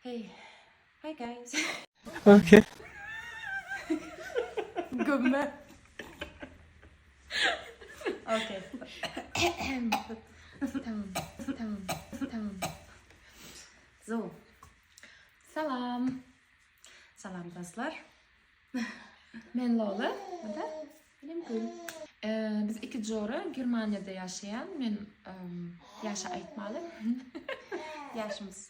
Hey Hi guys. Okay. Gömme. okay. tamam. Tamam. Tamam. So. Salam. Salam dostlar. Men Lola. Bu da benim gül. Ee, biz iki jora Germaniyada yaşayan. Men um, yaşa aytmalı. Yaşımız.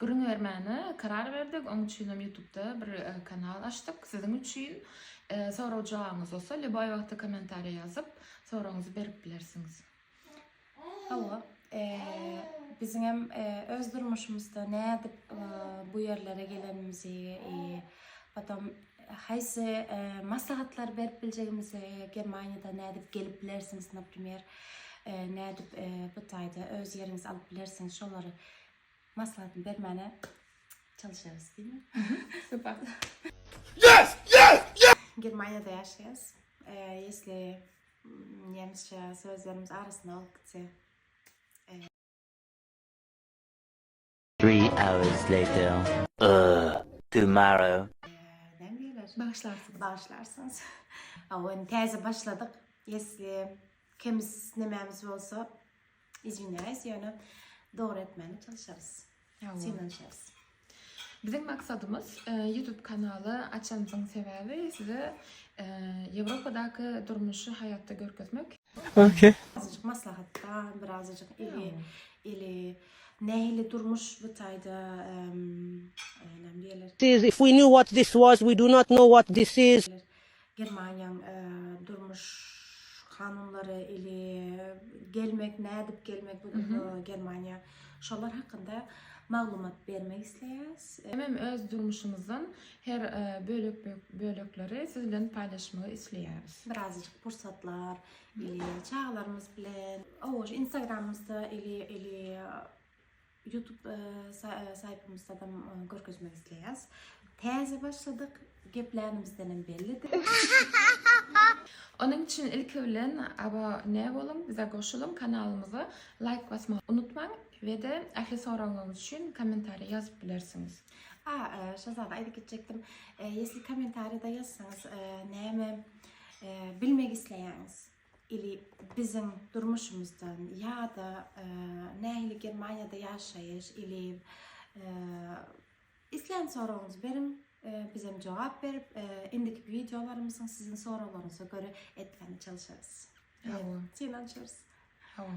Gürrüň bermäne karar berdik, oň üçinem ýutubda bir kanal açdyk siziň üçin. Sorag jogabyňyz bolsa lýuboý wagtda kommentariýa ýazyp soragyňyzy berip bilersiňiz. Hawa, biziňem öz durmuşymyzda nädip bu ýerlere gelenimizi, potom haýsy maslahatlary berip biljegimizi, Germaniýada nädip gelip bilersiňiz, naprimer, nädip bu taýda öz ýeriňizi alyp bilersiňiz, şolary Maslahatyny bermäne çalyşarys diýme. Super. Yes! Yes! Yes! Germaniýada ýaşaýas. Ýesli nemisçe sözlerimiz arasynda bolup gitse. Three hours later. Tomorrow. Näme diýerler? Bagyşlarsyňyz. Bagyşlarsyňyz. Awa, indi täze başladyk. Ýesli kemis nemämiz bolsa, Izwinyayis ýöne dogry etmäne çalyşarys. Synanyşarys. Biziň maksadymyz e, YouTube kanaly açanymyzyň sebäbi size e, Ýewropadaky durmuşy haýatda görkezmek. Okey. Azajyk maslahatda, bir azajyk eli, eli nähili durmuş bu taýda em, e, näme diýerler? If we knew what this was, we do not know what this is. Germaniýaň durmuş kanunlary ili gelmek nädip gelmek bu Germaniýa şolar hakynda maglumat bermek isleýäs. Hemem öz durmuşymyzdan her bölek bölekleri siz bilen paýlaşmagy isleýäris. Birazajyk pursatlar ili çagalarymyz bilen. Owoş instagramymyzda ili ili Youtube saýpymyzadam görkezmek isleýäs. Täze başladyk, geplänimizdenem bellidi. Onuň üçin ilki bilen abone boluň, bize goşulyň, kanalymyza laýk basmagy unutmaň we-de ähli soraglaryňyz üçin kommentariýa ýazyp bilersiňiz. A, şo zady aýdyp geçjekdim. Ýesli kommentariýada ýazsaňyz, näme bilmek isleýäňiz? Ili biziň durmuşymyzdan ýa-da nähili Germaniýada ýaşaýyş ili islän soragyňyzy beriň, bizem jogap berip, indiki wideolarymyzyň siziň soraglaryňyza görä etmäne çalyşarys. Hawa. Synanyşarys. Hawa.